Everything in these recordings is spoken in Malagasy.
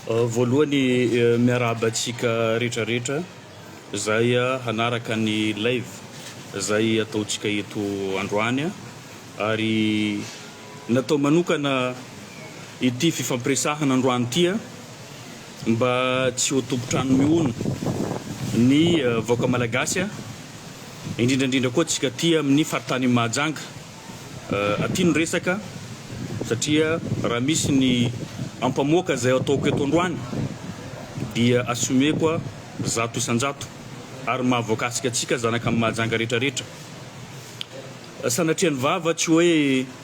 Voalohany miarahaba antsika rehetra rehetra izay hanaraka ny live izay ataontsika eto androany ary natao manokana ity fifampiresahana androany ity. Mba tsy ho tompon-trano mihono ny vahoaka malagasy, indrindra indrindra koa antsika aty amin'ny faritanin'i Mahajanga. Aty no resaka satria raha misy ny ampamoaka izay ataoko eto androany dia assumeko zato isan-jato ary mahavoakasika antsika zanaka an'i Mahajanga rehetra rehetra. Sanatrian'ny vava tsy hoe.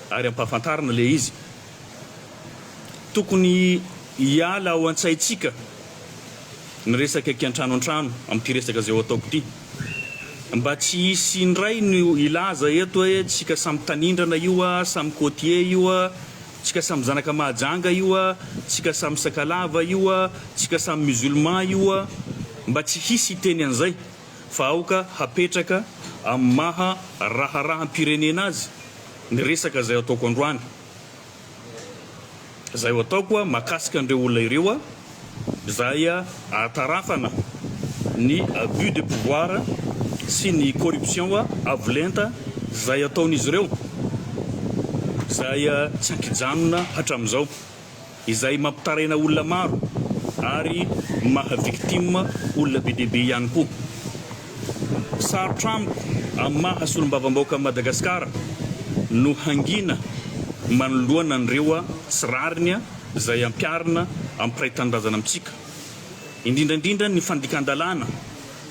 ary ampahafantarina ilay izy tokony hiala ao an-tsaintsika ny resaka kiantrano antrano amin'ity resaka izay ho ataoko ity mba tsy hisy indray ny hilaza eto hoe tsika samy tanindrana io a samy côtier io a tsika samy zanaka mahajanga io a tsika samy sakalava io a tsika samy musulman io a mba tsy hisy hiteny an'izay fa aoka hapetraka amin'ny maha raharaham-pirenena azy ny resaka izay ataoko androany. Izay ho ataoko mahakasika an'ireo olona ireo izay ahatarafana ny abus de pouvoir sy ny corruption avo lenta izay ataon'izy ireo izay tsy an-kijanona hatramin'izao. izay mampitaraina olona maro ary maha victime olona be dia be ihany koa. Sarotra amiko amin'ny maha solombavambaoka an'i Madagasikara no hangina manoloana an'ireo tsy rariny izay ampiharina ampiray tanindrazana amintsika, indrindra indrindra ny fandikan-dalàna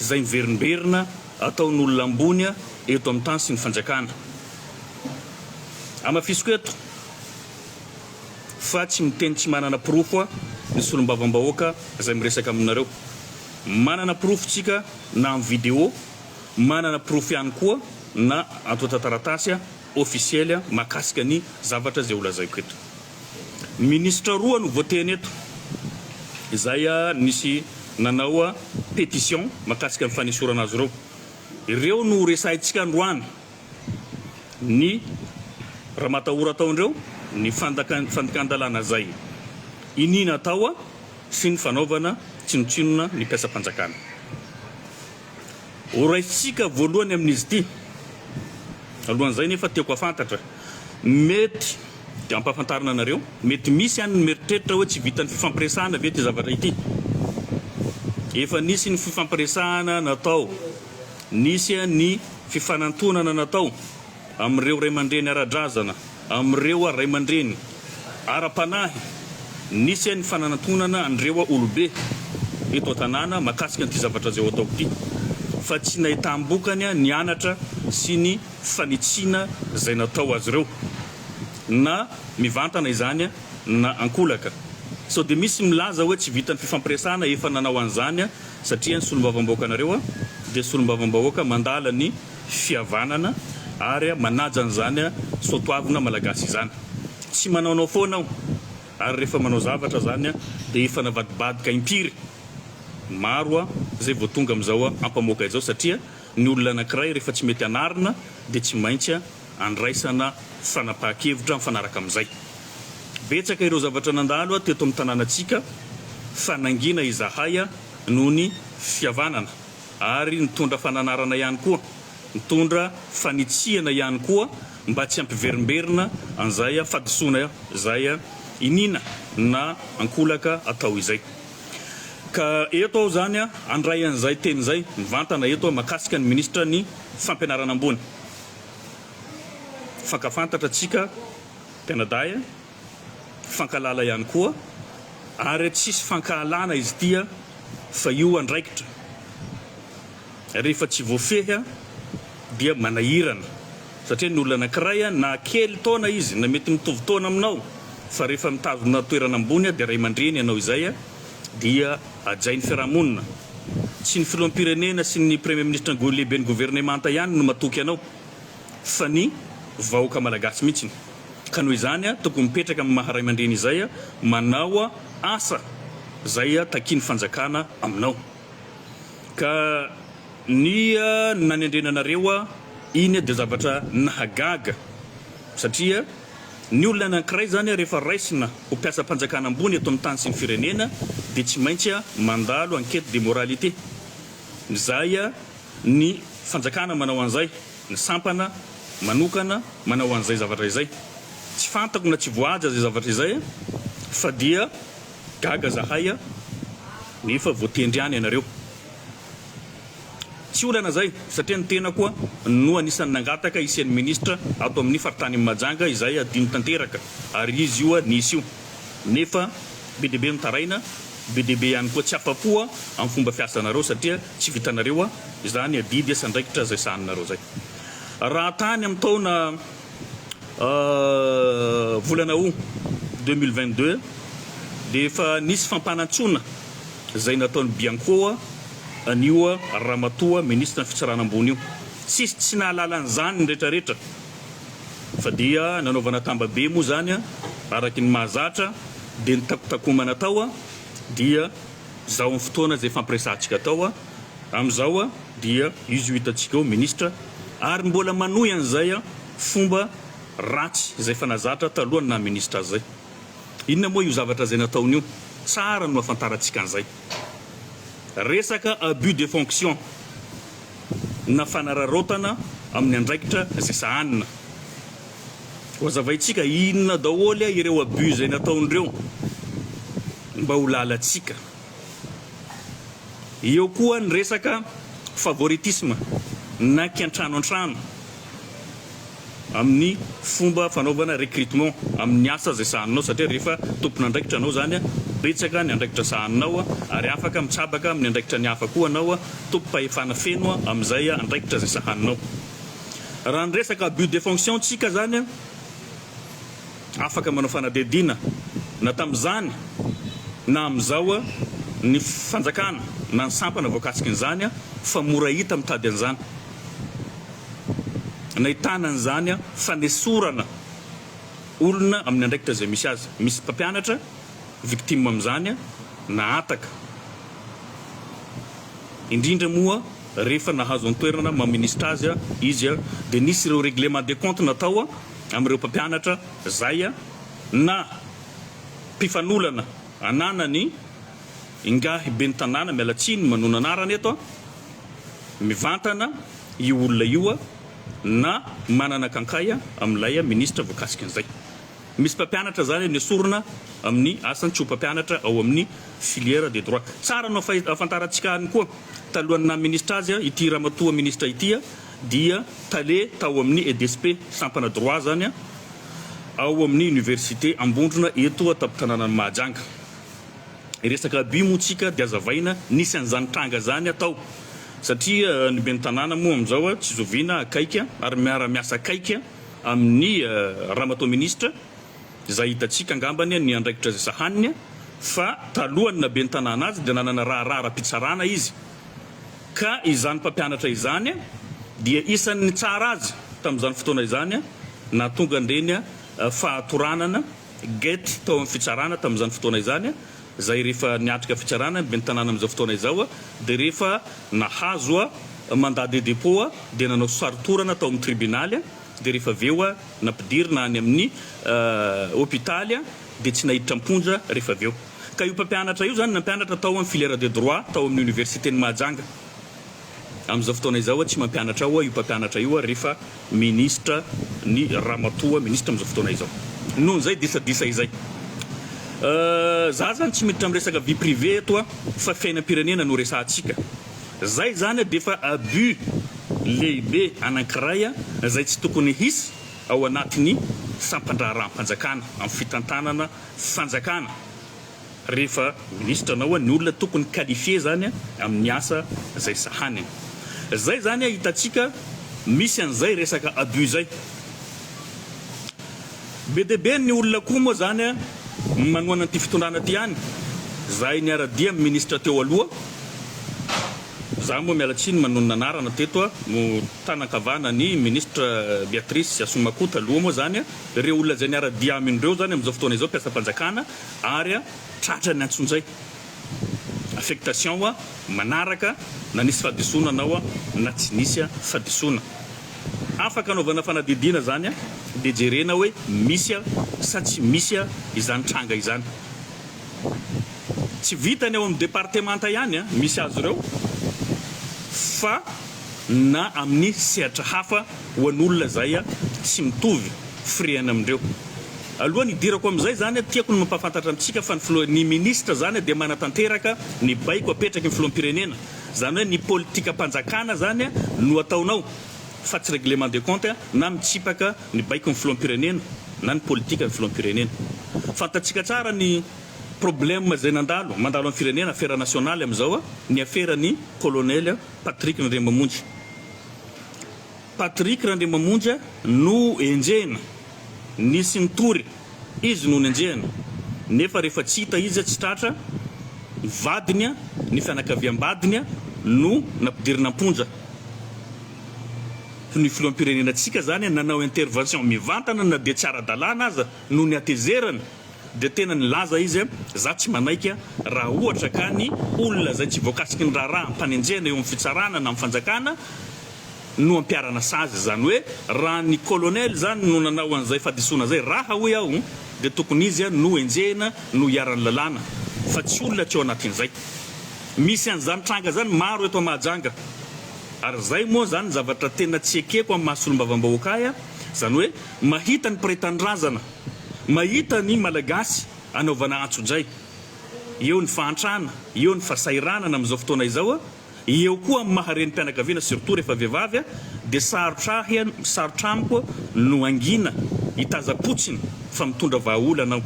izay miverimberina ataon'olona ambony eto amin'ny tany sy ny fanjakana. Hamafisiko eto. fa tsy miteny tsy manana porofo ny solombavambahoaka izay miresaka aminareo. Manana porofo tsika na amin'ny video, manana porofo ihany koa na antontan-taratasy ofisiely mahakasika ny zavatra izay holazaiko eto. Minisitra roa no voateny eto izay nisy nanao petition mahakasika ny fanesorana azy ireo. Ireo no horesahintsika androany ny ramatahora tao ndreo ny fandikan-dalàna zay iniana tao sy ny fanaovana tsinotsinona ny mpiasam-panjakana. Horaisintsika voalohany amin'izy ity. Alohan'izay nefa tiako hafantatra, mety dia ampahafantarina anareo, mety misy any ny mieritreritra hoe tsy vitan'ny fifampiresahana ve ity zavatra ity? Efa nisy ny fifampiresahana natao Nisy ny fifanantonana natao amin'ireo ray aman-dreny ara-drazana, amin'ireo ray aman-dreny ara-panahy, nisy ny fanantonana an'ireo olobe eto an-tanàna mahakasika an'ity zavatra izay ho ataoko ity, fa tsy nahitam-bokany ny anatra sy ny fanitsiana izay natao azy ireo, na mivantana izany na an-kolaka. Sao dia misy milaza hoe tsy vitan'ny fifampiresahana efa nanao an'izany Satria ny solombavambahoakanareo dia solombavambahoaka mandala ny fihavanana ary manaja an'izany soatoavina malagasy izany. Tsy manaonao foana aho ary rehefa manao zavatra izany dia efa navadibadika impiry maro izay vao tonga amin'izao ampamoaka izao satria ny olona anankiray rehefa tsy mety anarina dia tsy maintsy andraisana fanapahan-kevitra mifanaraka amin'izay. Betsaka ireo zavatra nandalo teto amin'ny tanànantsika fa nangina izahay noho ny fihavanana ary nitondra fananarana ihany koa, nitondra fanitsiana ihany koa mba tsy hampiverimberina an'izay fahadisoana izay iniana na ankolaka atao izay. Ka eto aho izany handray an'izay teny izay mivantana eto mahakasika ny Minisitra ny Fampianarana Ambony. fankafantatra antsika mpianadahy, fankahalala ihany koa ary tsisy fankahalana izy ity fa io andraikitra rehefa tsy voafehy dia manahirana satria ny olona anankiray na kely taona izy na mety mitovy taona aminao fa rehefa mitazona toerana ambony dia ray aman-dreny ianao izay dia hajain'ny fiarahamonina. Tsy ny filoham-pirenena sy ny Premier Ministra Ngoy lehiben'ny governemanta ihany no matoky anao fa ny vahoaka malagasy mihitsiny. Ka noho izany aho tokony mipetraka amin'ny maha raimandreny izay aho manao asa izay takian'ny fanjakana aminao. Ka ny nanendrena anareo aho iny dia zavatra nahagaga satria. Ny olona anankiray izany rehefa raisina ho mpiasam-panjakana ambony eto amin'ny tany sy ny firenena dia tsy maintsy mandalo enquête de moralité. Izay ny fanjakana manao an'izay, ny sampana manokana manao an'izay zavatra izay. Tsy fantako na tsy voahaja izay zavatra izay fa dia gaga zahay nefa voatendry ihany ianareo. Tsy olana izay satria ny tena koa no anisan'ny nangataka hisian'ny minisitra ato amin'ny faritanin'i Mahajanga izay adino tanteraka ary izy io nisy io nefa be dia be no taraina, be dia be ihany koa tsy afa-po amin'ny fomba fiasanareo satria tsy vitanareo izany adidy esandraikitra izay sahaninareo izay. Raha tany amin'ny taona. volana Aout deux mille vingt deux dia efa nisy fampanantsoana izay nataon'i Bianco an'io ramatoa minisitra ny fitsarana ambony io. Tsisy tsy nahalala an'izany ny retraretra fa dia nanaovana tambabe moa izany araky ny mahazatra dia ny takotakomana tao dia izao amin'ny fotoana izay fampiresahantsika tao. Amin'izao dia izy io hitantsika eo ministra ary mbola manohy an'izay fomba ratsy izay efa nazatra taloha ny naha ministra azy izay. Inona moa io zavatra izay nataony io? Tsara no hahafantarantsika an'izay. Resaka abus de fonction na fanararaotana amin'ny andraikitra izay sahanina. Hohazavaintsika inona daholo ireo abus izay nataon'ireo mba ho lalantsika. Eo koa ny resaka favoritisme na kiantrano antrano amin'ny fomba fanaovana recrutement amin'ny asa izay sahaninao satria rehefa tompon'andraikitra anao izany betsaka ny andraikitra sahaninao ary afaka mitsabaka amin'ny andraikitra ny hafa koa anao tompom-pahefana feno amin'izay andraikitra izay sahaninao. Raha ny resaka abus de fonction tsika izany Afaka manao fanadihadiana na tamin'izany na amin'izao ny fanjakana na ny sampana voakasikin'izany fa mora hita mitady an'izany nahitana an'izany fanesorana olona amin'ny andraikitra izay misy azy. Misy mpampianatra victime amin'izany na ataka, indrindra moa rehefa nahazo an-toerana maministra azy izy dia nisy ireo règlement de compte natao. amin'ireo mpampianatra zaya na mpifanolana ananany ingahy ben'ny tanàna mialatsiny manona anarana eto a mivantana io olona io a na manana kankay a amin'ilay a ministra voakasiky an'izay misy mpampianatra zany a nesorina amin'ny asan'ny tsy ho mpampianatra ao amin'ny filière de droit tsara no afahafantarantsika any koa talohan'ny naha ministra azy a ity ramatoa ministra ity a dia tale tao amin'ny EDSP, sampana droit izany an, ao amin'ny Université Ambondrona eto an-tampon-tanànan'i Mahajanga. Resaka abus moa tsika dia azavaina, nisy an'izany tranga izany an tao, satria ny ben'ny tanàna moa amin'izao an, tsy zoviana akaiky an, ary miara-miasa akaiky an amin'ny Ramatoa Minisitra, izay hitantsika angambany an ny andraikitra izay sahaniny an, fa talohan'ny naha ben'ny tanàna azy dia nanana raharaha ara-pitsarana izy. ka izany mpampianatra izany dia isan' ny tsara azy tamin' izany fotoana izany, nahatonga an-dreny fahatoranana, get, tao amin' ny fitsarana tamin' izany fotoana izany, izay rehefa niatrika fitsarana ny Ben'ny Tanàna amin' izao fotoana izao dia rehefa nahazo mandat de dépôt dia nanao sarotorana tao amin' ny tribinaly dia rehefa avy eo nampidirina any amin' ny hopitaly dia tsy naiditra am-ponja rehefa avy eo. Ka io mpampianatra io izany nampianatra tao amin'ny filière de droit tao amin'ny Oniversiten'i Mahajanga. Amin'izao fotoana izao tsy mampianatra ao io mpampianatra io ary fa Minisitra ny Ramatoa Minisitra amin'izao fotoana izao. Noho izay disadisa izay. Za zany tsy miditra amin'ny resaka vie privée eto fa fiainam-pirenena no resahantsika. Zay zany dia efa abus lehibe anankiray izay tsy tokony hisy ao anatin'ny sampan-draharaham-panjakana amin'ny fitantanana fanjakana rehefa ministra na hoa ny olona tokony qualifier zany amin'ny asa zay sahaniny. Zay zany hitantsika misy an'izay resaka abus zay. Be dia be ny olona koa moa zany manohana an'ity fitondrana ity any. Zahay niara-dia amin'ny ministra teo aloha, za moa miala tsiny manonona anarana teto, no tanan-kavana an'i ministra Beatrice Asomakoa taloha moa zany. Ireo olona izay niara-dia aminy ireo izany amin'izao fotoana izao, mpiasam-panjakana ary a, tratra ny antsonjay, affectation a, manaraka na nisy fahadisoana anao a, na tsy nisy a, fahadisoana. Afaka anaovana fanadidiana izany a, dia jerena hoe misy a, sa tsy misy a, izany tranga izany. Tsy vitany ao amin'ny departemanta ihany misy azy ireo fa na amin'ny sehatra hafa ho an'olona izay tsy mitovy firehana amindreo. Alohan'ny hidirako amin'izay izany, tiako ny mampahafantatra amintsika fa ny Filoha, ny Minisitra izany dia manatanteraka ny baiko apetraky ny Filoham-pirenena. Izany hoe ny politikam-panjakana izany no ataonao fa tsy règlement de compte na mitsipaka ny baikon'ny filoham-pirenena na ny politikan'ny filoham-pirenena. Fantatsika tsara ny problème izay nandalo, mandalo amin'ny firenena, afera nationale amin'izao, ny aferan'ny Colonel Patrick Randriamamonjy. Patrick Randriamamonjy no enjehina, nisy nitory, izy no nenjehina, nefa rehefa tsy hita izy, tsy tratra, ny vadiny, ny fianakaviam-badiny no nampidirina am-ponja. ny filoham-pirenenantsika zany nanao intervention mivantana na dia tsy ara-dalàna aza noho ny hatezerany dia tena nilaza izy hoe za tsy manaiky raha ohatra ka ny olona izay tsy voakasiky ny raharaha ampanenjehana eo amin'ny fitsarana na amin'ny fanjakana no ampiarana sazy izany hoe raha ny colonel zany no nanao an'izay fadisoana zay raha hoy aho dia tokony izy no enjehina no hiaran'ny lalàna fa tsy olona tsy ao anatin'izay misy an'izany tranga zany maro eto Mahajanga Ary zay moa zany ny zavatra tena tsy ekeko amin'ny maha solombavambahoaka ahy a, zany hoe mahita ny mpiray tanindrazana, mahita ny Malagasy anaovana antsojay, eo ny fahantrana, eo ny fasahiranana amin'izao fotoana izao a, eo koa amin'ny maha renim-pianakaviana surtout rehefa vehivavy a, dia sarotra ahy a, sarotra amiko no hangina, hitaza-potsiny fa mitondra vahaolana aho,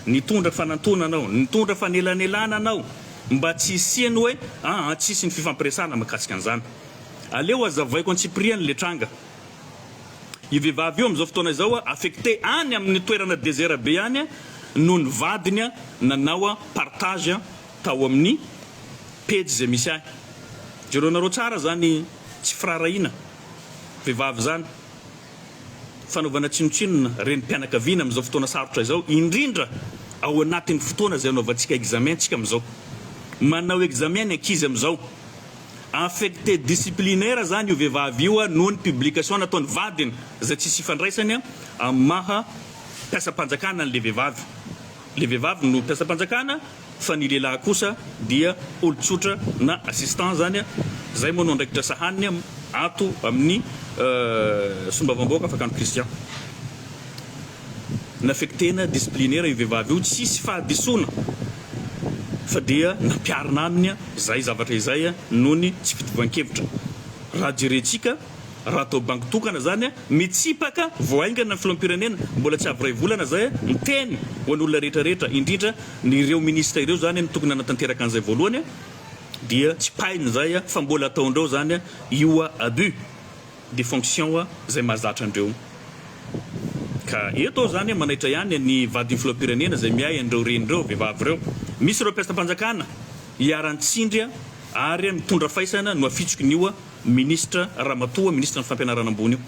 nitondra fanantonana aho, nitondra fanelanelanana aho, Mba tsy hisian'ny hoe aa tsy hisy ny fifampiresahana mahakasika an'izany. Aleo hazavaiko antsipiriany ilay tranga. Io vehivavy io amin'izao fotoana izao affecté any amin'ny toerana desert be any noho ny vadiny nanao partage tao amin'ny pejy izay misy ahy. Jereonareo tsara izany tsy firaharahiana vehivavy izany. fanaovana tsinontsinona renim-pianakaviana amin'izao fotoana sarotra izao, indrindra ao anatin'ny fotoana izay anaovantsika examen antsika amin'izao. Manao examen ny ankizy amin'izao. Infecté disciplinaire izany io vehivavy io noho ny publication nataon'ny vadiny izay tsisy ifandraisany amin'ny maha mpiasam-panjakana an'ilay vehivavy. Ilay vehivavy no mpiasam-panjakana. fa ny lehilahy kosa dia olon-tsotra na assistant zany zay moa no andraikitra sahaniny ato amin'ny solombavambahoaka Fakano Christian nafektena disciplinaire io vehivavy io tsisy fahadisoana fa dia nampiarina aminy zay zavatra izay noho ny tsy fitovian-kevitra raha jerentsika Raha atao banky tokana izany, mitsipaka vao haingana ny filoham-pirenena, mbola tsy avy iray volana izay, miteny ho an'olona rehetra rehetra, indrindra ireo minisitra ireo izany no tokony hanatanteraka an'izay voalohany, dia tsipahiny izay fa mbola ataondreo izany io abus de fonction izay mahazatra andreo. Ka eto aho izany manaitra ihany ny vadin'ny filoham-pirenena izay miahy an'ireo reny ireo vehivavy ireo. Misy ireo mpiasam-panjakana iharan-tsindry ary mitondra faisana no afitsiky ny io Minisitra Ramatoa Minisitra ny Fampianarana Ambony io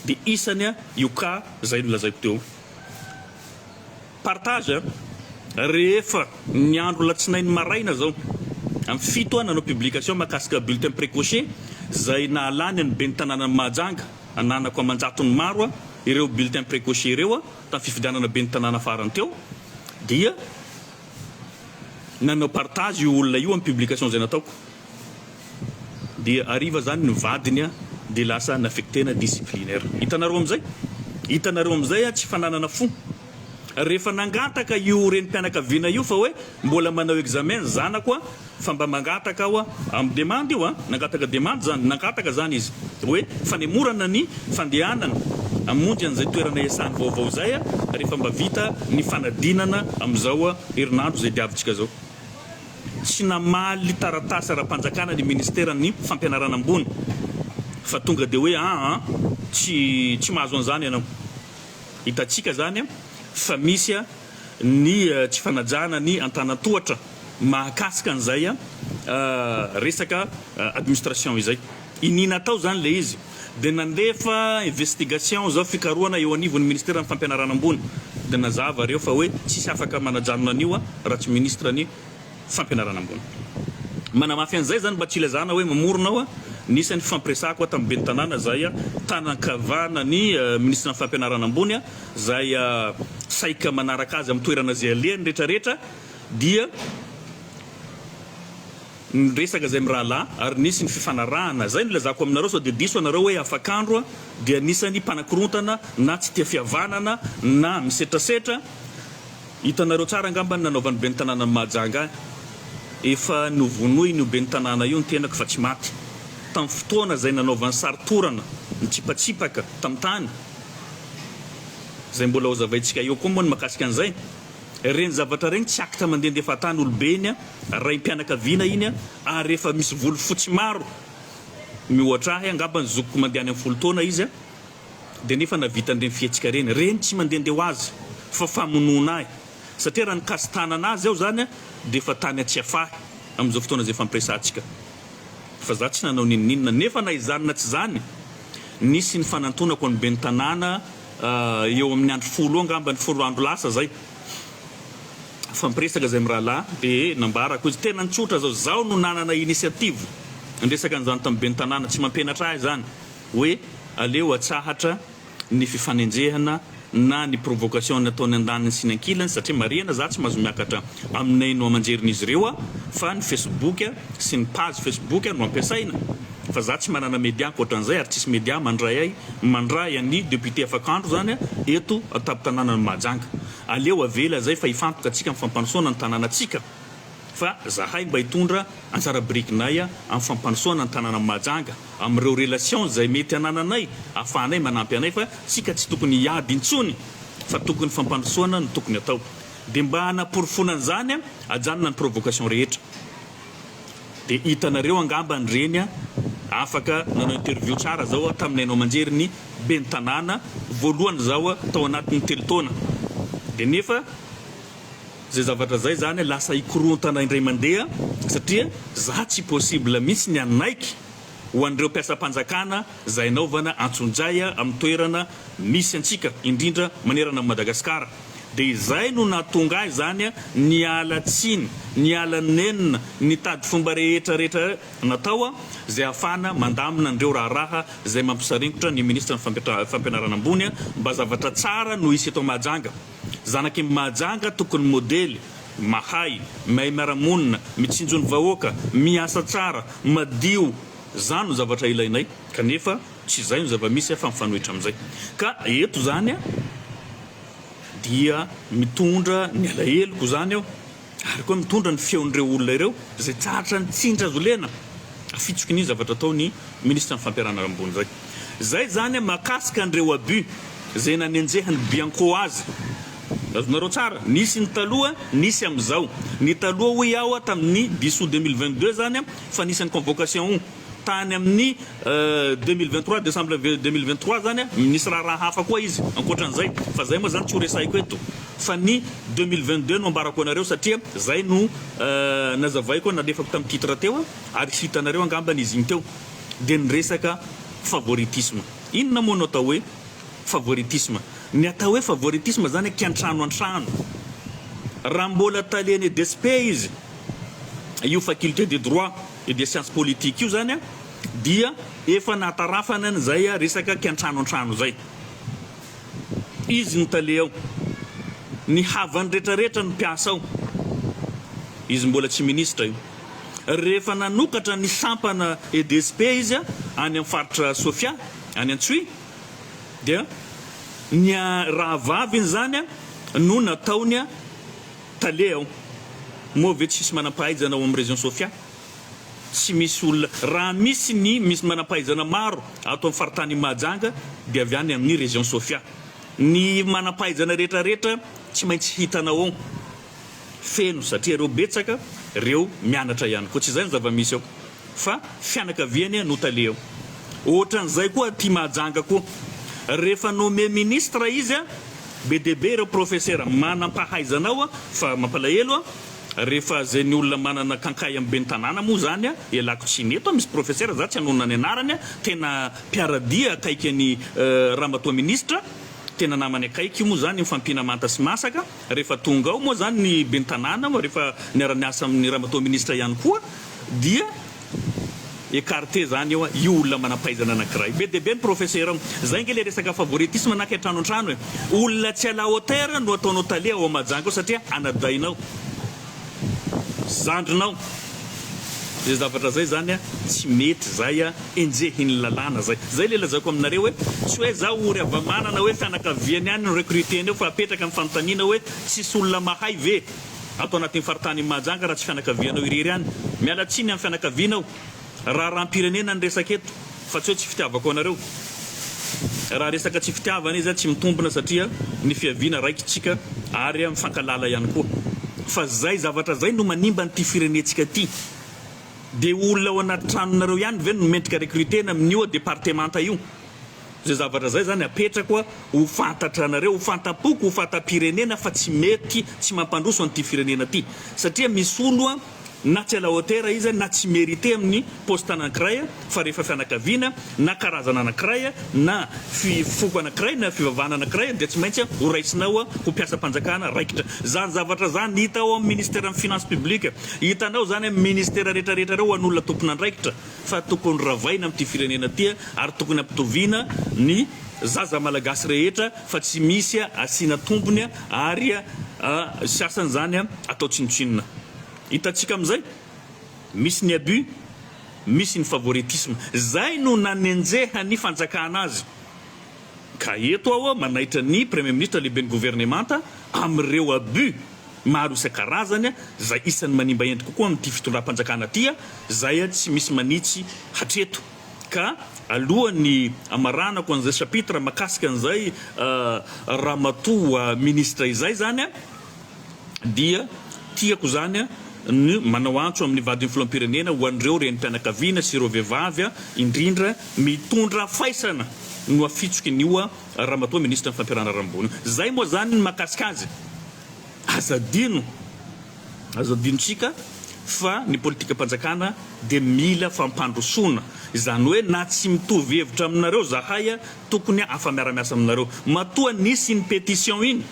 dia isany a io cas izay nolazaiko teo. Partage a! Rehefa ny andro latsinainy maraina izao amin'ny fito aho nanao publication mahakasika bulletin precoce izay nahalany an'ny Ben'ny Tanànan'i Mahajanga ananako aman-jatony maro a ireo bulletin precoce ireo a tamin'ny fifidianana Ben'ny Tanàna farany teo dia nanao partage io olona io amin'ny publication izay nataoko. Dia hariva zany ny vadiny a dia lasa naffectena disciplinaire. Hitanareo amizay? Hitanareo amizay a tsy fananana fo. Rehefa nangataka io renim-pianakaviana io fa hoe mbola manao examen ny zanako a fa mba mangataka aho a, amin'ny demande io a, nangataka demande zany, nangataka zany izy hoe fanemorana ny fandehanana hamonjy an'izay toerana iasany vaovao izay a rehefa mba vita ny fanadinana amizao a herinandro izay diavintsika zao. tsy namaly taratasy ara-panjakana ny Ministeran'ny Fampianarana Ambony fa tonga dia hoe aa tsy tsy mahazo an'izany ianao. Hitantsika izany fa misy ny tsy fanajana ny antanan-tohatra mahakasika an'izay resaka administration izay. Iniana atao izany ilay izy. dia nandefa investigation zao fikarohana eo anivon'ny ministeran'ny fampianarana ambony dia nazava reo fa hoe tsisy afaka manajanona an'io a raha tsy ministra ny fampianarana ambony manamafy an'izay zany mba tsy ilazana hoe mamorona aho a nisany fifampiresahako a tamin'ny ben'ny tanàna zay a tanankavana ny ministran'ny fampianarana ambony a zay a saika manaraka azy amin'ny toerana zay alehany retraretra dia Niresaka izay mirahalahy ary nisy ny fifanarahana. Izay no ilazako aminareo sao dia diso ianareo hoe afakandro a dia anisan'ny mpanakorontana na tsy tia fihavanana na misetrasetra. Hitanareo tsara angamba ny nanaovan'ny ben'ny tanànan'i Mahajanga ahy. Efa novonoin'io ben'ny tanàna io ny tenako fa tsy maty. Tamin'ny fotoana izay nanaovany sary torana nitsipatsipaka tamin'ny tany. Izay mbola hozavaintsika eo koa moa ny mahakasika an'izay. Reny zavatra reny tsy acte mandendefa tany olobe iny a, raim-pianakaviana iny a, ary efa misy volo fotsy maro miohatra ahy, angamba ny zokiko mandeha any amin'ny folo taona izy a, dia nefa navitany reny fihetsika reny. Reny tsy mandende ho azy fa famonoana ahy satria raha nikasi-tanana azy aho zany a, dia efa tany an-tsiafahy amin'izao fotoana izay ifampiresahantsika fa za tsy nanao n'inon'inona. Nefa na izany na tsy izany nisy ny fanantonako an'ny ben'ny tanàna. eo amin'ny andro folo eo angambany, folo andro lasa izay, nifampiresaka izay mirahalahy dia nambarako izy, tena tsotra izao, izaho no nanana initiative niresaka an'izany tamin'ny ben'ny tanàna, tsy mampianatra ahy izany hoe aleo atsahatra ny fifanenjehana na ny provocation ataony andaniny sy ny ankilany satria marihana izaho tsy mahazo miakatra amin'ny haino aman-jerin'izy ireo fa ny facebook sy ny page facebook no ampiasaina, Fa za tsy manana media ankoatran'izay ary tsisy media mandray ahy mandray an'i député Afakandro zany eto an-tampon-tananan'i Mahajanga. Aleo avela zay fa hifantoka antsika amin'ny fampanosoana ny tananantsika fa zahay mba hitondra anjara birikinay amin'ny fampanosoana ny tananan'i Mahajanga amin'ireo relations izay mety hanananay ahafahanay manampy anay fa tsika tsy tokony hiady intsony fa tokony fampanosoana no tokony atao. Dia mba hanaporofoana an'izany ajanona ny provocation rehetra. Dia hitanareo angamba ny reny a! Afaka nanao interview tsara zao aho tamin'ny haino aman-jery ny ben'ny tanàna voalohany zaho tao anatin'ny telo taona. Dia nefa zay zavatra zay zany lasa hikorontana indray mandeha satria za tsy possible mihitsy ny hanaiky ho an'ireo mpiasam-panjakana izay anaovana antsonjay amin'ny toerana misy antsika, indrindra manerana an'i Madagasikara, dia izay no nahatonga ahy izany niala tsiny, niala nenina, nitady fomba rehetra rehetra natao izay ahafahana mandamina an'ireo raharaha izay mampisaringotra ny Minisitry ny Fampianarana Ambony mba zavatra tsara no hisy eto Mahajanga. Zanak' i Mahajanga tokony modely, mahay, mahay miara-monina, mitsinjo ny vahoaka, miasa tsara, madio, zany no zavatra ilainay kanefa tsy izay no zava-misy fa mifanohitra amin'izay ka eto zany dia mitondra ny alaheloko zany aho ary koa mitondra ny feon'ireo olona ireo izay tsy ahatra ny tsindry azo lena afitsiky ny zavatra atao ny ministra ny fampiarana ary ambony izay izay izany mahakasika an'ireo abus izay nanenjehan'ny bianco azy azonareo tsara nisy ny taloha nisy amin'izao ny taloha hoy aho tamin'ny bisou deux mille vingt deux izany fa nisy an'i convocation Tany amin'ny deux mille vingt trois, décembre deux mille vingt trois zany a, nisy raharaha hafa koa izy ankoatran'izay fa zay moa zany tsy ho resahiko eto fa ny deux mille vingt deux no ambarako anareo satria zay no nazavaiko nalefako tamin'ny titre teo ary hitanareo angambany izy iny teo dia ny resaka favoritisme. Inona moa no atao hoe favoritisme? Ny atao hoe favoritisme zany kiantrano antrano. Raha mbola talen'ny EDSP izy, io faculté de droit, Io dia science politique io zany dia efa nahatarafana an'izay resaka kiantrano antrano izay. Izy ny tale ao. Ny havany rehetra rehetra ny mpiasa ao. Izy mbola tsy ministra io. Rehefa nanokatra ny sampana EDSP izy any amin'ny faritra Sofia, any Antsohihy, dia ny rahavaviny izany no nataony Tale aho. Moa ve tsisy manampahaizana ao amin'ny région Sofia? Tsy misy olona, raha misy ny misy manampahaizana maro ato amin'ny faritanin'i Mahajanga dia avy any amin'ny région Sofia. Ny manampahaizana rehetra rehetra tsy maintsy hitanao ao feno satria reo betsaka reo mianatra ihany koa. Tsy izay ny zava-misy ao. Fa fianakaviany no tale ao. Ohatran'izay koa aty Mahajanga koa. Rehefa nommé ministre izy, be dia be ireo profesera manam-pahaizana ao fa mampalahelo rehefa izay ny olona manana kankay amin'ny ben'ny tanàna moa izany ialako tsiny. Eto misy profesera, izaho tsy hanonona ny anarany, tena mpiara-dia akaiky an'i Ramatoa Ministra, tena namany akaiky moa izany mifampiana manta sy masaka. Rehefa tonga ao moa izany ny ben'ny tanàna, rehefa niara-niasa amin'ny ramatoa minisitra ihany koa, dia écarté izany eo io olona manam-pahaizana anankiray. Be dia be ny professeur ao. Izay ange ilay resaka favoritisme na kay trano an-trano e. Olona tsy à la hauteur no ataonao tale ao Mahajanga ao satria anadahinao. zandrinao zay zavatra zay zany a tsy mety zay a enjehin'ny lalàna zay zay le lazaiko aminareo hoe tsy hoe za ory havamanana hoe fianakaviany any no recruter an'io fa apetraka ny fanontaniana hoe tsisy olona mahay ve ato anatin'ny faritany Mahajanga raha tsy fianakavianao irery any miala tsiny amin'ny fianakavianao Raharaham-pirenena ny resaka eto fa tsy hoe tsy fitiavako anareo. Raha resaka tsy fitiavana izy tsy mitombina satria ny fiaviana raikitsika ary mifankalala ihany koa. Fa zay zavatra zay no manimba an'ity firenetsika ty. Dia olona ao anaty tranonareo ihany ve no mendrika recrutena amin'io departemanta io? Izay zavatra izay izany apetrako ho fantatra anareo, ho fantam-poko, ho fantam-pirenena fa tsy mety, tsy mampandroso an'ity firenena ity. Satria misy olo na tsy à la hauteur izy na tsy merite amin'ny poste anankiray fa rehefa fianakaviana na karazana anankiray na foko anankiray na fivavahana anankiray dia tsy maintsy ho raisinao ho mpiasam-panjakana raikitra. Izany zavatra izany hita ao amin'ny Ministeran'ny Finances Publiques. Hitanao izany amin'ny Ministera rehetra rehetra ireo ho an'olona tompon'andraikitra. fa tokony ravaina amty firenena ty ary tokony ampitoviana ny zaza malagasy rehetra fa tsy misy asiana tombony ary sasany zany atao tsinotsinona hitantsika amzay misy ny abus misy ny favoritisme zay no nanenjehan'ny fanjakana azy Ka eto aho manaitra ny Praimiministra Lehiben'ny Governemanta amin'ireo abus maro isan-karazany izay isan'ny manimba endrika kokoa amin'ity fitondram-panjakana ity izay tsy misy manitsy hatreto. Ka alohan'ny hamaranako an'izay chapitre makasika an'izay Ramatoa Ministra izay izany, dia tiako izany ny manao antso amin'ny vadin'ny filoham-pirenena ho an'ireo renim-pianakaviana sy ireo vehivavy indrindra mitondra faisana no afitsoky an'io ramatoa minisitry ny fampiharana rambony io. Izay moa izany ny mahakasika azy. Aza adino, azo adinontsika fa ny politikam-panjakana dia mila fampandrosoana. Izany hoe na tsy mitovy hevitra aminareo zahay tokony afa-miara-miasa aminareo. Matoa nisy iny pétition iny.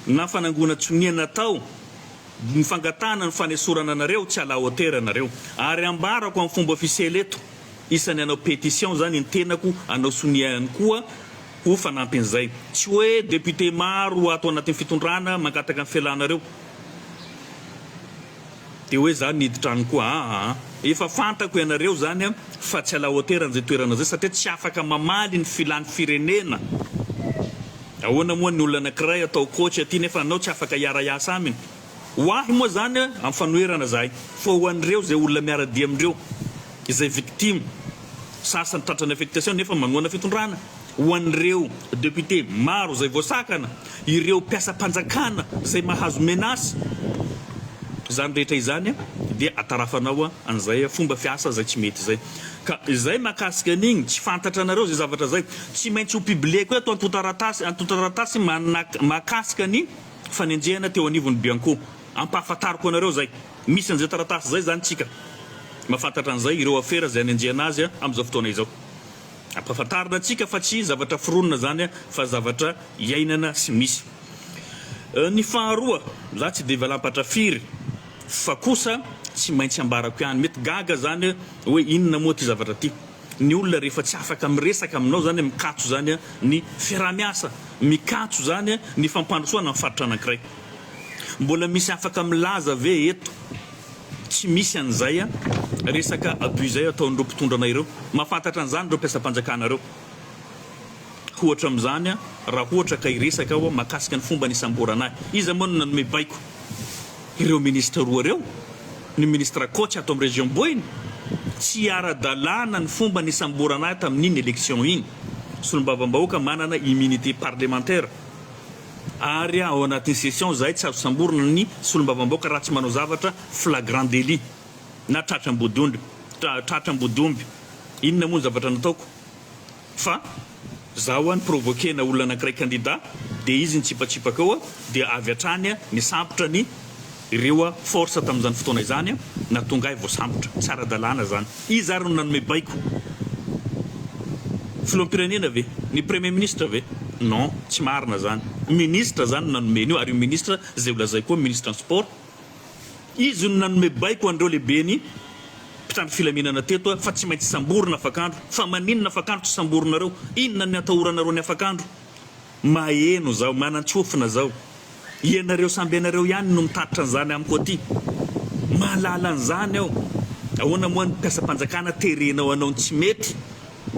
na fanangonana tsonia natao ny fangatahana ny fanesorana anareo tsy à la hauteur nareo ary ambarako amin'ny fomba ofisiely eto isany hanao pétition zany ny tenako hanao sonia ihany koa ho fanampin'izay tsy hoe député maro ato anatin'ny fitondrana mangataka ny fialanareo Dia hoe za niditra any koa aa. Efa fantako ianareo zany an fa tsy à la hauteur an'izay toerana zay satria tsy afaka mamaly ny filan'ny firenena. Ahoana moa ny olona anankiray atao coach aty nefa anao tsy afaka hiara hiasa aminy. Ho ahy moa zany an amin'ny fanoherana zahay fa ho an'ireo izay olona miara-dia amindreo izay victime sasany tratran'ny affectation nefa manohana fitondrana. ho an'ireo député maro izay voasakana, ireo mpiasam-panjakana izay mahazo menace, izany rehetra izany dia atarafanao an'izay fomba fiasa izay tsy mety izay. Ka izay mahakasika an'igny tsy fantatra anareo izay zavatra izay, tsy maintsy ho publieko eto antontan-taratasy antontan-taratasy mahakasika ny fanenjehana teo anivon'ny Bianco, ampahafantariko anareo izay. Misy an'izay taratasy izay izany tsika, mahafantatra an'izay ireo afera izay hanenjehana azy amin'izao fotoana izao. Ampahafantarina antsika fa tsy zavatra foronina izany fa zavatra iainana sy misy. Ny faharoa, za tsy dia valampatra firy fa kosa tsy maintsy ambarako ihany, mety gaga izany hoe inona moa ity zavatra ity, ny olona rehefa tsy afaka miresaka aminao izany, mikatso izany ny fiaraha-miasa, mikatso izany ny fampandrosoana ny faritra anankiray. Mbola misy afaka milaza ve eto Tsy misy an'izay an! Resaka abus izay ataon'ireo mpitondra anay ireo. Mahafantatra an'izany ireo mpiasam-panjakana ireo. Ohatra amin'izany an, raha ohatra ka hiresaka aho mahakasika ny fomba nisamborana ahy. Iza moa no nanome baiko? Ireo ministra roa ireo? Ny ministra coach ato amin'ny région Boina? Tsy ara-dalàna ny fomba nisamborana ahy tamin'iny élection iny. Solombavambahoaka manana immunité parlementaire. ary ao anatin'ny session izahay tsy azo samborina ny solombavambaoka raha tsy manao zavatra flagrant délit na tratra ambodiondry tratra ambodiomby inona moa ny zavatra nataoko fa za hoa ni-provoquer-na olona anankiray candidat dia izy nitsipatsipaka eo dia avy hatrany nisambotra ny Ireo force tamin'izany fotoana izany na tonga ahy vao sambotra. Tsy ara-dalàna izany. Iza ary no nanome baiko? Filoham-pirenena ve? Ny premier ministre ve? Non, tsy marina izany. Ministre izany no nanome an'io ary io ministre izay ho lazaiko koa ministre ny sport. Izy no nanome baiko an'ireo lehiben'ny mpitandro filaminana teto fa tsy maintsy samborina afak'andro. Fa maninona afak'andro tsy samborinareo? Inona ny atahoranareo ny afak'andro? Maheno zao, manantsofina zao. Ianareo samby ianareo ihany no mitatitra an'izany amiko aty. Mahalala an'izany aho. Ahoana moa ny mpiasam-panjakana terenao hanao ny tsy mety?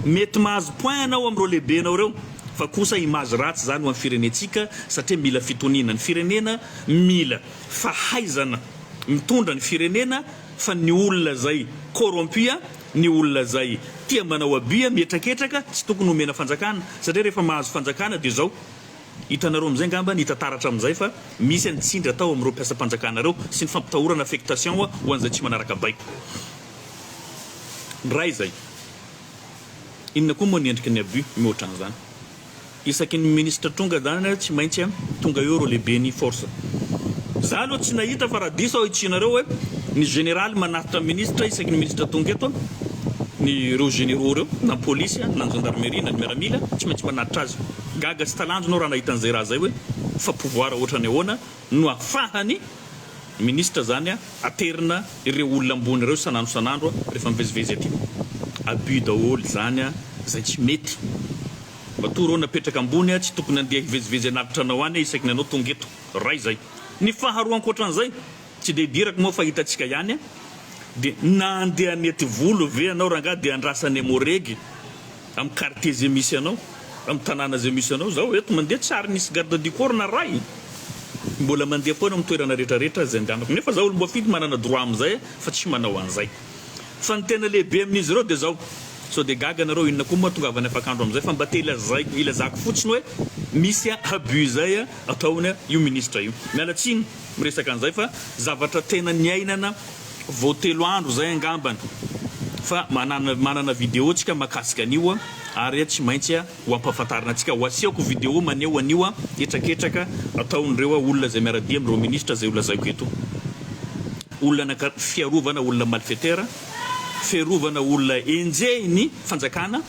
Mety mahazo point anao amin'ireo lehibenao ireo fa kosa image ratsy izany ho an'ny firenentsika satria mila fitoniana ny firenena, mila fahaizana mitondra ny firenena fa ny olona izay corrompu Ny olona izay tia manao abus mihetraketraka tsy tokony homena fanjakana satria rehefa mahazo fanjakana dia izao, hitanareo amin'izay ngamba ny hita taratra amin'izay fa misy ny tsindry atao amin'ireo mpiasam-panjakana ireo sy ny fampitahorana affectation ho an'izay tsy manaraka baiko. Ny iray izay. Inona koa moa ny endriky ny abus mihoatra an'izany. Isaky ny ministre tonga zany tsy maintsy tonga eo ireo lehiben'ny force. Za aloha tsy nahita fa raha diso aho itsianareo hoe ny général manatitra ministre isaky ny ministre tonga eto ny ireo généraux ireo na ny police na ny gendarmerie na ny miaramila tsy maintsy manatitra azy. Gaga sy talanjona aho raha nahita an'izay raha zay hoe fa pouvoir ohatrany ahoana no afahan'ny Ministra zany aterina ireo olona ambony ireo isan'andro isan'andro rehefa mivezivezy aty. Abus daholo izany izay tsy mety. Matoa reo napetraka ambony tsy tokony handeha hivezivezy anaty tranao any isaky ny anao tonga eto. Ray izay. Ny faharoa ankoatran'izay, tsy dia idirako moa fa hitantsika ihany, dia na handeha any aty volo ve ianao rangahy dia andrasan'i Emmo Reg Amin'ny quartier izay misy anao, amin'ny tanàna izay misy anao, izaho eto mandeha tsy ary nisy garde du corps narahina, mbola mandeha foana amin'ny toerana rehetra rehetra izay andehanako, nefa izaho olom-boafidy manana droit amin'izay fa tsy manao an'izay. Fa ny tena lehibe amin'izy ireo dia izao, sao dia gaga nareo inona koa moa hahatongavany afak'andro amin'izay fa mba te ilazaiko, ilazako fotsiny hoe misy abus izay ataony io ministre io. Miala tsiny miresaka an'izay fa zavatra tena niainana Vao telo andro zay angambany fa manana manana video tsika makasika an'io a ary a tsy maintsy a ho ampahafantarina antsika ho asehoko video maneho an'io a hetraketraka ataon'ireo a olona zay miara-dia amin'ireo ministra zay ho lazaiko eto olona naka fiarovana olona malfetera fiarovana olona enjehin'ny fanjakana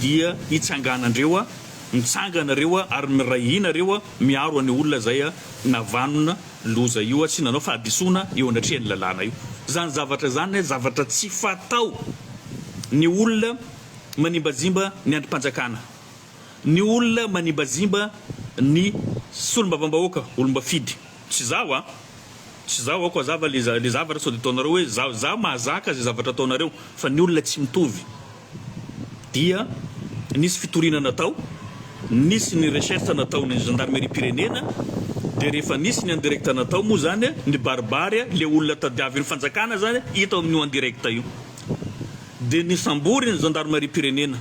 dia hitsanganandreo a mitsangana reo a ary miray hina reo a miaro an'io olona zay a navanona loza io tsy nanao fahadisoana eo anatrehan'ny lalàna io. Izany zavatra izany zavatra tsy fatao ny olona manimbazimba ny andrim-panjakana, ny olona manimbazimba ny solombavambahoaka, olombafidy. Tsy izaho a! Tsy izaho aoko hazava le zavatra sao dia ataonareo hoe izaho. Izaho mahazaka izay zavatra ataonareo fa ny olona tsy mitovy. dia nisy fitoriana natao, nisy ny recherche nataon'ny gendarmerie-pirenena, dia rehefa nisy ny en direct natao moa izany, nibaribary ilay olona tadiavin'ny fanjakana izany, hita ao amin'io en direct io. Dia nisambory ny gendarmerie-pirenena.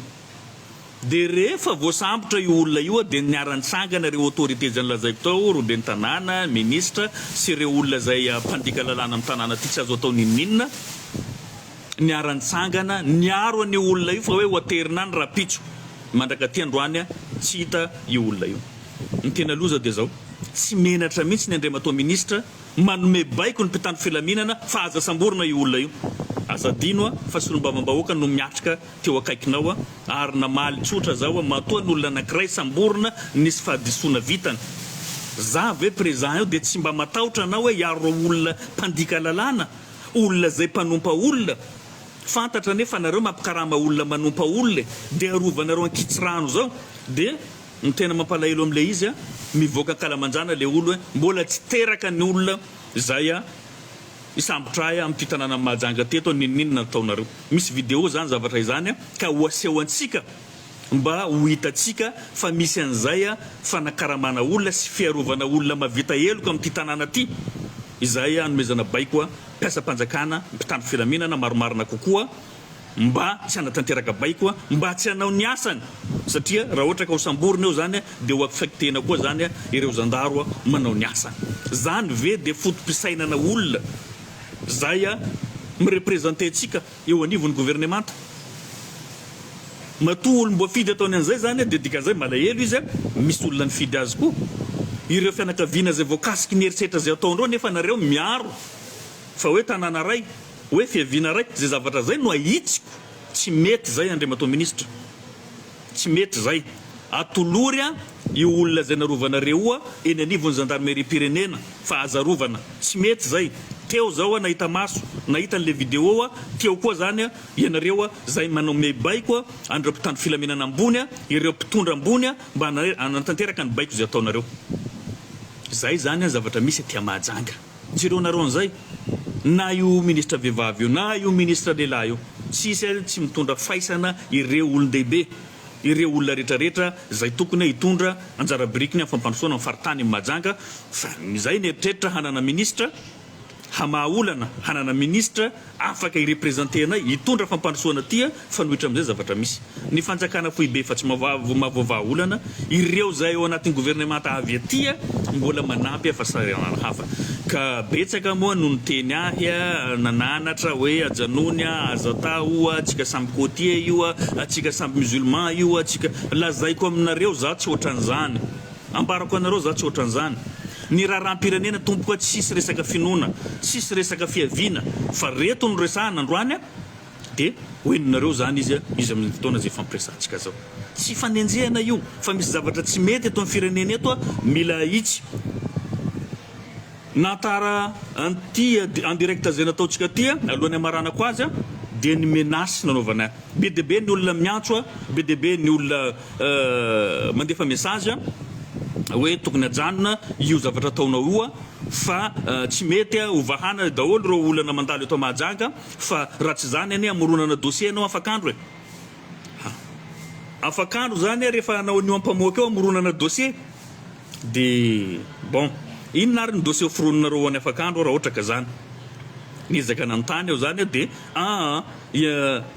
Dia rehefa voasambotra io olona io dia niara-nitsangana ireo autorités izay nolazaiko tao, ireo ben'ny tanàna, ministra sy ireo olona izay mpandika lalàna amin'ny tanàna ity, tsy azo atao n'inon'inona. niara-nitsangana niaro an'io olona io fa hoe ho aterina any rahampitso. Mandrakaty androany tsy hita io olona io. Ny tena loza dia izao, tsy menatra mihitsy ny Andriamatoa Minisitra manome baiko ny mpitandro filaminana fa aza samborina io olona io. Aza adino fa solombavambahoaka no miatrika teo akaikinao ary namaly tsotra zao matoa ny olona anankiray samborina nisy fahadisoana vitany. Za ve prezan eo dia tsy mba matahotra anao hoe hiaro ireo olona mpandika lalàna? olona zay mpanompa olona fantatra anie fa nareo mampikarama olona manompa olona e de arovanareo ankitsirano zao de ny tena mampalahelo amle izy a mivoaka ankalamanjana le olo e mbola tsy teraka ny olona zay a hisambotra ahy amty tananany mahajanga teto a ninoninona nataonareo misy video zany zavatra izany a ka ho aseho antsika Mba ho hitantsika fa misy an'izay fanakaramana olona sy fiarovana olona mahavita heloka amin'ity tanàna ity. Izahay hanomezana baiko mpiasam-panjakana, mpitandro filaminana maromarina kokoa mba tsy hanatanteraka baiko mba tsy hanao ny asany satria raha ohatra ka ho samborina eo izany dia ho affectena koa izany ireo zandaro manao ny asany. Izany ve dia foto-pisainana olona izay mirepresenter antsika? eo anivon'ny governemanta. Matoa olom-boafidy ataony an'izay izany dia dikan'izay malahelo izy, misy olona nifidy azy koa. Ireo fianakaviana izay voakasiky ny herisetra izay ataondreo anefa nareo miaro fa hoe tanàna ray, hoe fiaviana ray, izay zavatra izay no ahitsiko tsy mety izay Andriamatoa Minisitra. Tsy mety izay. Atolory an io olona izay narovanareo eny anivon'ny zandarimeriam-pirenena fa aza arovana. Tsy mety izay. Teo izao an nahita maso, nahita an'ilay video an, teo koa izany an ianareo an izay manao miaibaiko an an'ireo mpitandro filaminana ambony an, ireo mpitondra ambony an mba hanatanteraka ny baiko izay ataonareo. Izay izany an zavatra misy aty a Mahajanga. Tsy ireo nareo an'izay, na io ministra vehivavy io, na io ministra lehilahy io, tsisy ary tsy mitondra faisana ireo olon-dehibe, ireo olona rehetra rehetra izay tokony hoe hitondra anjara birikiny amin'ny fampandrosoana ny faritany Mahajanga fa izay mieritreritra hanana ministra hamaha olana hanana ministra Afaka hi-representer anay, hitondra fampandrosoana tia fanohitra amin'izay zavatra misy. Ny fanjakana foibe fa tsy mavoa vahaolana, ireo izay ao anatin'ny governemanta avy aty mbola manampy fa sahiranana hafa. Ka betsaka moa no niteny ahy, nananatra hoe ajanony a, aza atao io a, antsika samy côtier io a, antsika samby musulman io a, antsika. Lazaiko aminareo, za tsy ohatran'izany. Ambarako anareo za tsy ohatran'zany. Ny raharaham-pirenena tompoko a tsisy resaka finoana, tsisy resaka fiaviana fa reto no resahana androany a! de ho henonareo zany izy a izy amin'izay fotoana zay ifampiresahantsika zao. Tsy ifanenjehana io fa misy zavatra tsy mety eto amin'ny firenena eto a mila ahitsy. Na tara an'ity en direct izay nataontsika ity alohan'ny hamaranako azy dia ny menace nanaovana be dia be ny olona miantso be dia be ny olona mandefa message hoe tokony ajanona io zavatra ataonao io fa tsy mety ho vahana daholo ireo olana mandalo eto Mahajanga fa raha tsy izany anie hamoronana dossier ianao afak'andro e! Afak'andro izany rehefa hanao an'io ampamoaka io hamoronana dossier. Dia bon, inona ary ny dossier hoforoninareo ho an'i Afakandro raha ohatra ka zany? Niezaka nanontany aho zany aho dia, aa,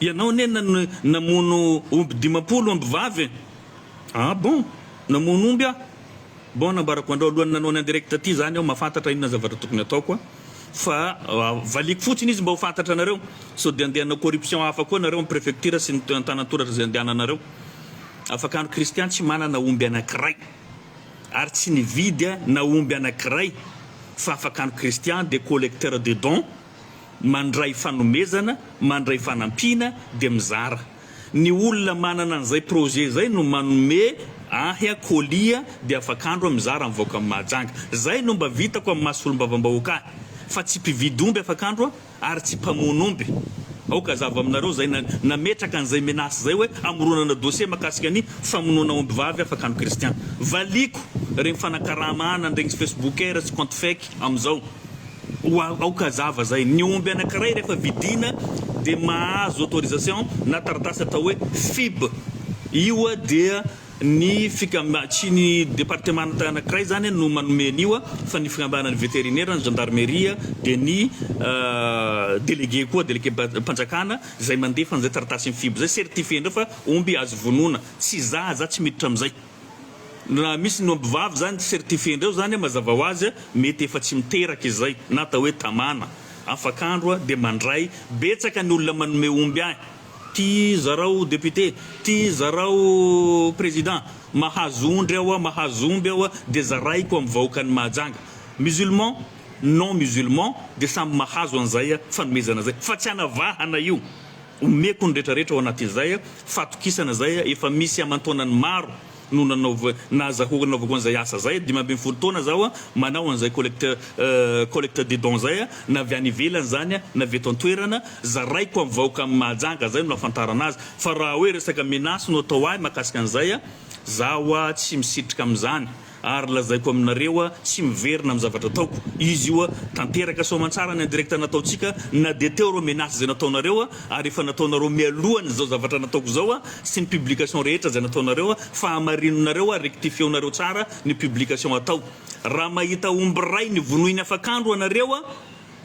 ianao anie nano, namono omby dimampolo omby vavy e! Ah bon? Namono omby aho? Bon, nambarako andrao alohan'ny nanao ny en direct ty zany aho mahafantatra inona zavatra tokony hataoko a! Fa valiako fotsiny izy mba ho fantatra anareo, sao dia handeha hanao corruption hafa koa nareo amin'ny prefecture sy ny antanantoratra izay andehananareo. Afaka ny kristian tsy manana omby anankiray ary tsy nividy na omby anankiray fa afaka ny kristian dia collecteur de don, mandray fanomezana, mandray fanampiana dia mizara. Ny olona manana an'izay projet izay no manome ahy colis dia afak'andro aho mizara amin'ny vahoakan'i Mahajanga. Izay no mba vitako amin'ny maha solombavambahoaka ahy fa tsy mpividy omby afak'andro aho. ary tsy mpamono omby. Aoka hazava aminareo izay nametraka an'izay menace izay hoe hamoronana dossier mahakasika ny famonoana ombivavy afaka ny kristian. Valiako ireny fanakarama ana an'iregny facebookers sy compte fake amin'izao. Oa aoka hazava izay, ny omby anankiray rehefa vidiana dia mahazo autorisation na taratasy atao hoe fib. Io dia Ny fikambana, tsy ny departemanta anankiray izany no manome an'io fa ny fikambanan'ny veterinera, ny zandarmeria dia ny delege koa, delegem-panjakana izay mandefa an'izay taratasin'ny fibo izay, certifier indray fa omby azo vonoina. Tsy za, za tsy miditra amin'izay. Raha misy ny ombivavy izany certifier indray izany mazava ho azy mety efa tsy miteraka izay na atao hoe tamana, afak'andro dia mandray, betsaka ny olona manome omby ahy. Ty zarao député, ty zarao président, mahazo ondry aho, mahazo omby aho dia zaraiko amin'ny vahoakan'i Mahajanga. Musulman, non musulman dia samy mahazo an'izay fanomezana izay. Fa tsy anavahana io. Omeko ny retraretra ao anatin'izay, fatokisana izay, efa misy aman-taonany maro no nanaova, naza ho nanaovako an'izay asa izay, dimy ambin'ny folo taona zaho manao an'izay collecte collecte de dons izay, na avy any ivelany izany na avy eto an-toerana, zaraiko amin'ny vahoaka amin'i Mahajanga, izay no nahafantarana azy, fa raha hoe resaka menace no atao ahy mahakasika an'izay, zaho tsy misitrika amin'izany, ary lazaiko aminareo tsy miverina amin'ny zavatra ataoko, izy io tanteraka soamantsara ny indirecte nataontsika, na dia teo ireo menace izay nataonareo, ary efa nataonareo mialohan'izao zavatra nataoko izao, sy ny publication rehetra izay nataonareo fa hamarininareo ary rectifieonareo tsara ny publication atao raha mahita omby iray ny vonoiny afak'andro anareo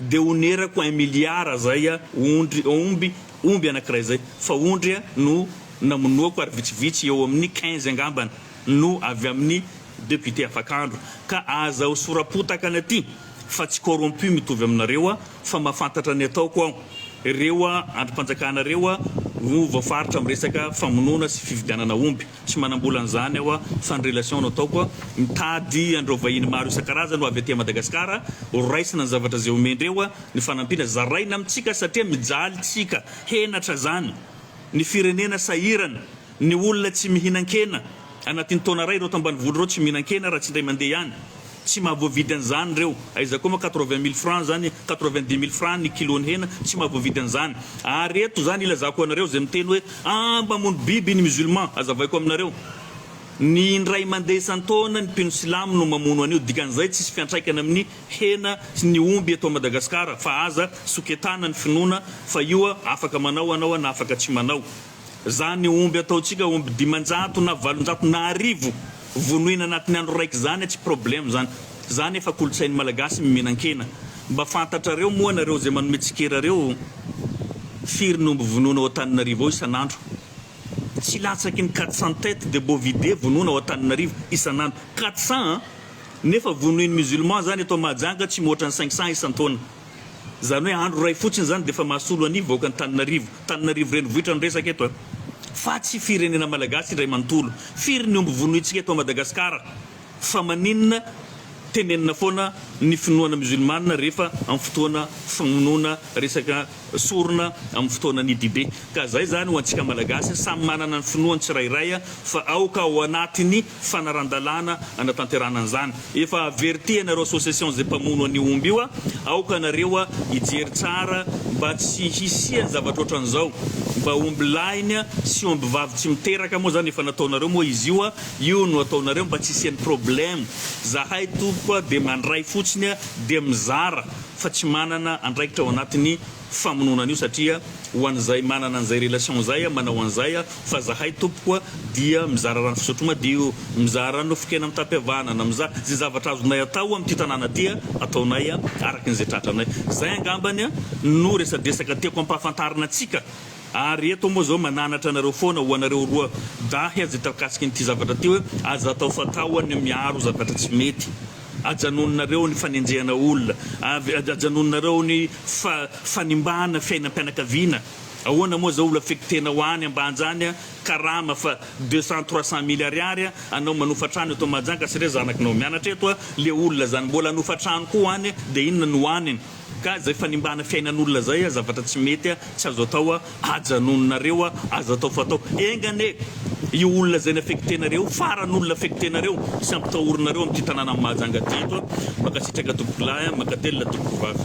dia onerako un milliard izay ondry omby omby anakiray izay fa ondry no namonoako ary vitsivitsy eo amin'ny quinze angambany no avy amin'ny député afak'andro ka aza ho sorapotakana aty fa tsy corrompu mitovy aminareo fa mahafantatra ny ataoko aho. Ireo andrim-panjakana ireo no voafaritra amin'ny resaka famonoana sy fividianana omby. Tsy manam-bola an'izany aho fa ny relation no ataoko. Mitady an'ireo vahiny maro isan-karazany ho avy aty Madagasikara, horaisina ny zavatra izay omendreo ny fanampiana, zaraina amintsika satria mijaly tsika, henatra izany ny firenena sahirana. Ny olona tsy mihinan-kena, anatin'ny taona iray ireo eto ambanivolo ireo tsy mihinan-kena raha tsy indray mandeha ihany. Tsy mahavoavidy an'izany ireo. Aiza koa moa quatre-vingt mille francs izany, quatre-vingt-dix mille francs ny kilon'ny hena, tsy mahavoavidy an'izany. Ary eto izany ilazako anareo izay miteny hoe aah mamono biby ny musulman, azavaiko aminareo, ny indray mandeha isan-taona ny mpino silamo no mamono an'io, dikan'izay tsisy fiantraikany amin'ny hena sy ny omby eto Madagasikara, fa aza soketana ny finoana fa io afaka manao anao na afaka tsy manao. Izany omby ataontsika omby dimanjato na valonjato na arivo vonoina anatin'ny andro raiky izany tsy problème izany. Izany efa kolotsain'ny malagasy ny mihinan-kena. Mba fantatrareo moa nareo izay manome tsikera reo firy ny omby vonoina ao Antananarivo ao isan'andro? Tsy latsaky ny quatre cents têtes de bovidae vonoina ao Antananarivo isan'andro. Quatre cents an! Nefa vonoin'ny musulmans izany eto Mahajanga tsy mihoatra ny cinq cents isan-taona. Izany hoe andro iray fotsiny izany dia efa mahasolo an' ny vahoakan' Antananarivo, Antananarivo renivohitra no resaka eto an! Fa tsy firenena malagasy indray manontolo. Firy ny omby vonointsika eto Madagasikara? Fa maninona tenenina foana ny finoana musulmana rehefa amin'ny fotoana famonoana resaka sorona amin'ny fotoanan' ny dibe? Ka izay izany ho antsika malagasy samy manana ny finoany tsirairay fa aoka ao anatin' ny fanaran-dalàna hanatanterahana an'izany. Efa avertihana ireo association izay mpamono an'io omby io, aoka anareo hijery tsara mba tsy hisian'ny zavatra ohatran'izao, mba omby lahiny sy omby vavy tsy miteraka moa izany efa nataonareo moa izy io, io no ataonareo mba tsy hisian'ny problème, zahay tompoko dia mandray fotsiny dia mizara fa tsy manana andraikitra ao anatin'ny. famonoana an'io satria ho an'izay manana an'izay relation izay a manao an'izay a fa zahay tompoko a dia mizara rano fisotro madio, mizara nofon-kena mitapy havanana, miza ze zavatra azonay atao amin'ity tanàna ty a ataonay a araky ny ze tratranay. Zay angambany a no resadresaka tiako ampahafantarina antsika ary eto moa zao mananatra anareo foana ho anareo roa dahy a ze tarkasikin'ity zavatra ty hoe aza atao fatao a ny miaro zavatra tsy mety Ajanononareo ny fanenjehana olona, avy ajanononareo ny fa fanimbana fiainam-pianakaviana, ahoana moa zao olo affectena ho any ambanja any a, karama fa deux cent trois cent mille ariary a, anao manofa trano eto mahajanga sy re zanaknao mianatra eto a, le olona zany mbola hanofa trano koa ho any de inona no ho aniny? Gaz zay fanimbana fiainan'olona zay a zavatra tsy mety a tsy azo atao a ajanononareo a aza atao fatao enga anie io olona zay nafektenareo io faran olona afektenareo sy ampitahorinareo amty tananan'i Mahajanga ty eto a mankasitraka tompokolahy a mankatelina tompokovavy.